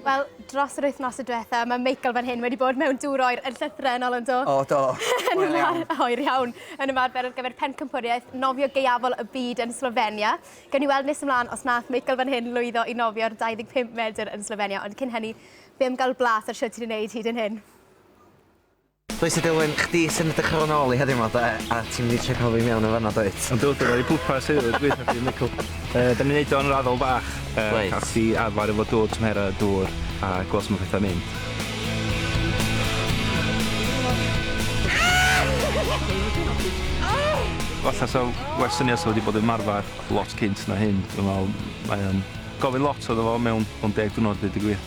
Wel, dros yr wythnos y diwetha, mae Michael fan hyn wedi bod mewn dŵr oer yn llythrennol yn do? O, do. yn Hwyl iawn. ymar- Hwyl iawn. Yn ymarfer ar gyfer pencampwriaeth nofio gaeafol y byd yn Slofenia. Gawn ni weld nes ymlaen os nath Michael fan hyn lwyddo i nofio'r 25 medr yn Slofenia, ond cyn hynny, fe am gael blas ar shwt ti'n ei wneud hyd yn hyn. Croeso Dilwyn, chdi sy'n edrych ar ôl nôl i heddiw yma de, a ti'n mynd i trio cael fi mewn yn fan'na dwyt? Yn do, dyna fi pwrpas heddiw, gweithio chdi Michael. Yy, da ni'n neud o'n raddol bach, yy... Reit. ...cael chdi arfer efo dŵr, tymhera dŵr, a gweld sut ma' petha'n mynd. Falla sa well syniad sa fo wedi bod ymarfer lot cynt na hyn, dwi'n me'wl, mae o'n gofyn lot iddo fo mewn mewn deg diwrnod ddeud y gwir.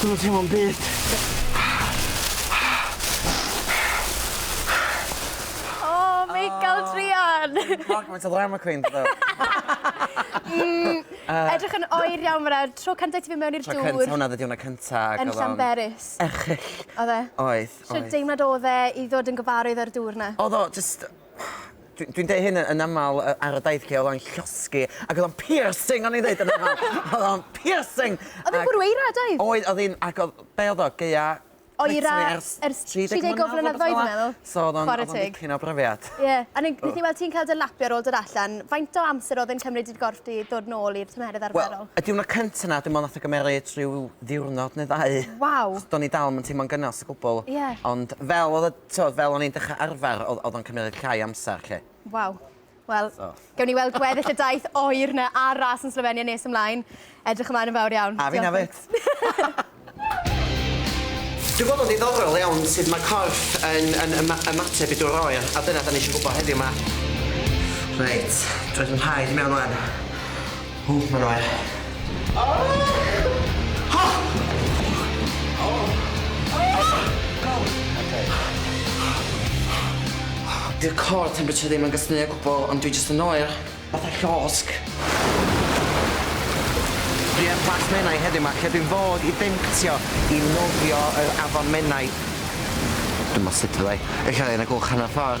Dwi'm yn teimlo'm byd. O Michael druan! Clog faint o ddrama queen dw i. Edrych yn oer iawn fynna, tro cynta ti fyn mewn i'r dŵr. Tro cynta hwnna, ddiwrnod cynta. Yn Llanberis. Erchyll. Oedd e? Oedd, oedd. Shwd deimlad odd e i ddod yn gyfarwydd â'r dŵr 'na? Odd o jyst Dwi dwi'n deud hyn yn aml yy ar y daith lle o'dd o'n llosgi ac o'dd o'n piercing o'n i'n ddeud yn amal. O'dd o'n piercing! O'dd e'n bwrw eira doedd? Oedd o'dd 'i'n ac o'dd be' o'dd o gaea Oera literally ers ers 30 30 mlynadd o flynyddoedd dwi'n meddwl. So o'dd o'n o'dd o'n dipyn o brofiad. Ie a ne- nethon ni weld ti'n ca'l dy lapio ar ôl dod allan. Faint o amser o'dd e'n cymryd i'r gorff di ddod nôl i'r tymheredd arferol? Wel y diwrnod cynta 'na dwi me'wl nath o gymeryd rhyw ddiwrnod ne' ddau. Waw! Do'n i dal 'im yn teimlo'n gynnes o gwbwl. Ie. Ond fel o'dd y T'od fel o'n i'n dechra arfar o'dd o'dd o'n cymeryd llai o amsar 'lly. Waw. Wel... So. ...gewn ni weld gweddill y daith oer 'na a'r ras yn Slofenia nes ymlaen. Edrych ymlaen yn fawr iawn. A fi'n efyd. Dwi'n gweld o'n ddiddorol iawn sud ma' corff yn yn yma- ymateb i dŵr oer a dyna 'dan ni isio gwbo heddiw 'ma. Reit, dw i 'di 'yn nhraed i mewn ŵan. Ww, mae'n oer. Dyw core temperature ddim yn gysmu o gwbwl ond dwi jyst yn oer. Fatha llosg. Dwi ar Plas Menai heddiw 'ma lle dwi'n fod i demtio i nofio yr afon Menai. Dwi'm bo sut fyddai. Ella fyddai'n agwch hanner ffor.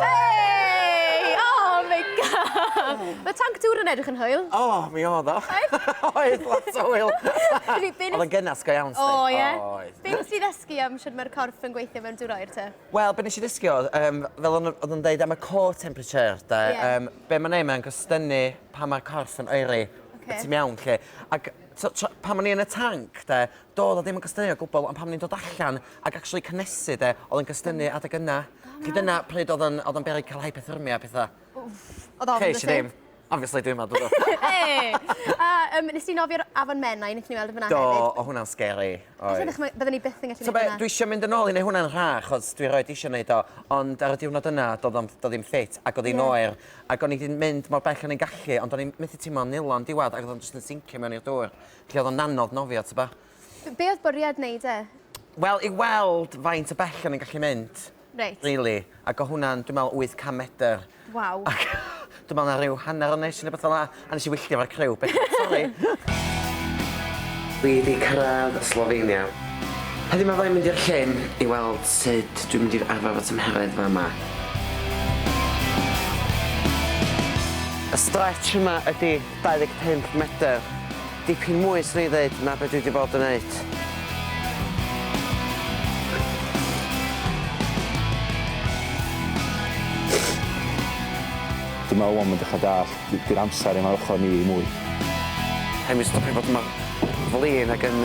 Hey! Oh my god! Mae tanc dŵr yn edrych yn hwyl. O, oh, mi oedd o. Oedd? Oedd, lot o hwyl. Oedd yn gynnas go iawn, O, ie? Oedd. Be nes ti ddysgu am sut mae'r corff yn gweithio mewn dŵr oer te? Wel, be nes i ddysgu oedd, um, fel oedd yn dweud am y core temperature, da, yeah. um, be mae'n ei, mae'n gostynnu pan mae'r corff yn oeri. Okay. Ti'n iawn, lle. Ac so, pan o'n i yn y tanc, da, Doedd o ddim yn cystynnu o gwbl, ond pan o'n i'n dod allan ac actually cynesu de, oedd yn cystynnu adeg yna. Felly dyna pryd oedd o'n oedd o'n beryg cael hypothermia a pethau. Wff, oedd ofn byse? Ces i ddim. Obviously dwi'n meddwl bod o. Hey! A um, nes ti nofio'r Afon Menai, nes ni weld y fyna hefyd? Do, o hwnna'n scary. Os ydych, byddwn ni byth yn gallu gwneud hwnna. Dwi eisiau mynd yn ôl i neu hwnna'n rha, chos dwi roed eisiau gwneud o, ond ar y diwrnod yna, do ddim ffit, ac oedd hi'n oer, ac o'n i wedi mynd mor bell o'n i'n gallu, ond o'n i'n methu tîmo'n nilo yn diwedd, ac oedd o'n jyst yn sincio mewn i'r dŵr. Lle oedd o'n anodd nofio, tybed? Be oedd bwriad wneud e? Wel, i weld faint o bell o'n i'n gallu mynd. Reit. Rili. Ac o' hwnna'n, dwi'n meddwl, 800 medr. Waw. Ac dwi'n meddwl 'na ryw hanner o nes i neu rywbeth fel 'na, a nes i wylltio efo'r criw. Sori. Dwi 'di cyrraedd Slofenia. Heddiw 'ma fyddai'n mynd i'r llyn i weld sut dwi'n mynd i arfer fy tymheredd fama. Y stretch yma ydi 25 medr. Dipyn mwy 'swn i ddeud na be dwi 'di bod yn neud. Dwi me'wl wan ma'n dechra dallt d- 'di'r amsar 'im ar ochor ni mwy. Rhai' mi stopio bod mor flin ag yn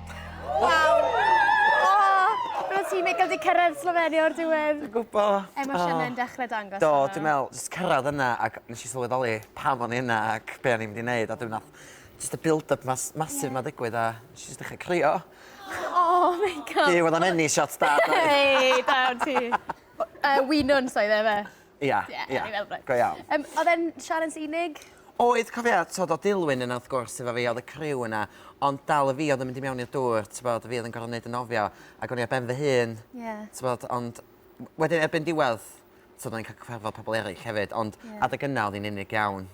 Waw! Oh, Roedd ti Michael di cyrraedd Slovenia o'r diwedd. Dwi'n gwbo. Emosiynau yn dechrau dangos. Do, dwi'n meddwl, jyst cyrraedd yna ac nes i sylweddoli pam o'n i yna ac be o'n i'n mynd i wneud a dwi'n nath jyst y build-up mas, masif ma ddigwydd a nes i jyst dechrau crio. Oh my god. Duw, oedd o'n enni shots da. Hei, da ti. Uh, Winwns oedd e fe. Ia, ia. O'n i fel reit. Go iawn. Yym odd e'n sialens unig? Oedd cofia t'od o'dd Dilwyn yna wrth gwrs efo fi o'dd y criw yna ond dal y fi o'dd yn mynd i mewn i'r dŵr t'bod fi o'dd yn gor'o' neud y nofio ag o'n i ar ben fy hun. Ie. T'bod ond w- wedyn erbyn diwedd t'od o'n i'n ca'l cyfarfod pobol eryll hefyd ond... Ie. ...adeg yna o'dd 'i'n unig iawn.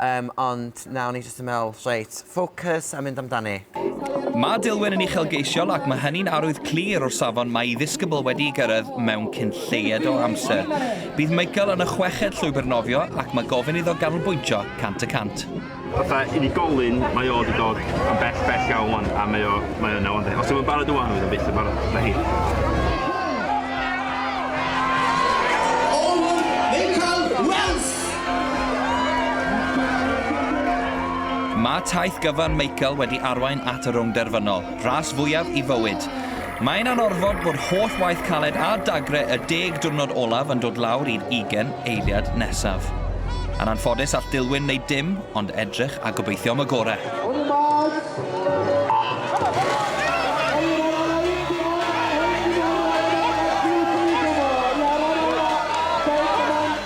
Yym, ond na, o'n i jyst yn meddwl, reit, ffocws a mynd amdani. Mae Dilwyn yn uchelgeisiol ac mae hynny'n arwydd clir o'r safon mae ei ddisgybl wedi'i gyrraedd mewn cyn lleied o amser. Bydd Michael yn y chweched llwybr nofio ac mae gofyn iddo ganolbwyntio cant y cant. Fatha unigolyn, mae o 'di dod yn bell, bell iawn 'wan, a mae o, mae yna 'wan 'de. Os 'di o'm yn barod ŵan, fydd o byth yn barod, na hi. Mae taith gyfan Michael wedi arwain at y rownd derfynol, ras fwyaf i fywyd. Mae'n anorfod bod holl waith caled a dagre y deg diwrnod olaf yn dod lawr i'r ugain eiliad nesaf. Yn anffodus all Dilwyn wneud dim ond edrych a gobeithio am y gorau.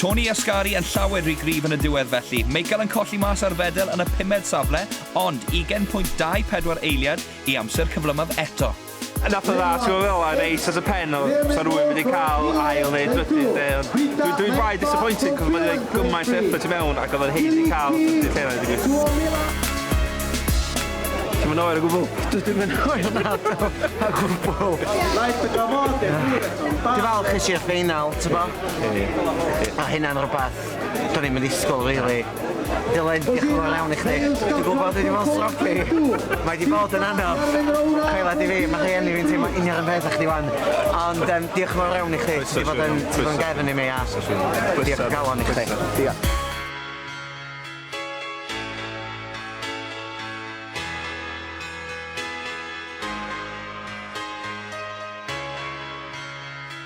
Tony Ascari yn llawer rhy gryf yn y diwedd felly. Michael yn colli mas ar fedel yn y pumed safle, ond ugen pwynt dau pedwar eiliad i amser cyflymaf eto. Yn atho dda, ti'n gwybod fel 'na, yn neis as a pen o 'sa rhywun wedi cael ail neu drydydd lle ond dwi dwi braidd disappointed achos mae 'di rhoi gymaint o effort i mewn ac oedd o'n haeddu cael y trydydd lle 'na deud y gwir. Ti'm yn oer o gwbl? Dw ddim yn oer nadw, o gwbl. Ti'n falch es i'r ffeinal, tybod? Ma' hynna'n rwbath do'n i'm yn ddisgwyl rili. Dylan, diolch yn fawr iawn i chdi. Dwi'n gwbod dwi 'di bod yn sloppy. Mae 'di bod yn anodd. Credad i fi, ma' rhieni fi'n teimlo union 'r un peth a chdi 'wan. Ond yym diolch yn fawr iawn i chdi. Ti 'di bod yn ti 'di bod yn gefn i mi a diolch o galon i chdi. Diolch.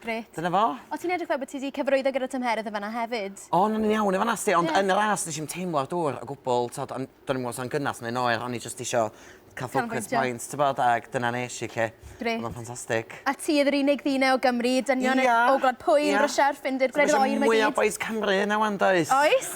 Grêt. Dyna fo. O, ti'n edrych fel bod ti wedi cyfarwyddo gyda tymheredd yn fanna hefyd. O, na, ni'n iawn yn fanna, sti, ond yn y ras nes i'n teimlo'r dŵr o gwbl, tod, ond do'n i'n gwybod sa'n gynnas neu'n oer, o'n i jyst isio cael focus points, ti'n bod, ac dyna nes i, lle. Grêt. Oedd o'n ffantastig. A ti oedd yr unig ddyn o Gymru, dynion o Gwlad Pwyl, Rwsia a'r Ffindir, gwledydd oer mae gyd. Mae eisiau mwy o bois Cymru yna wan, does? Oes.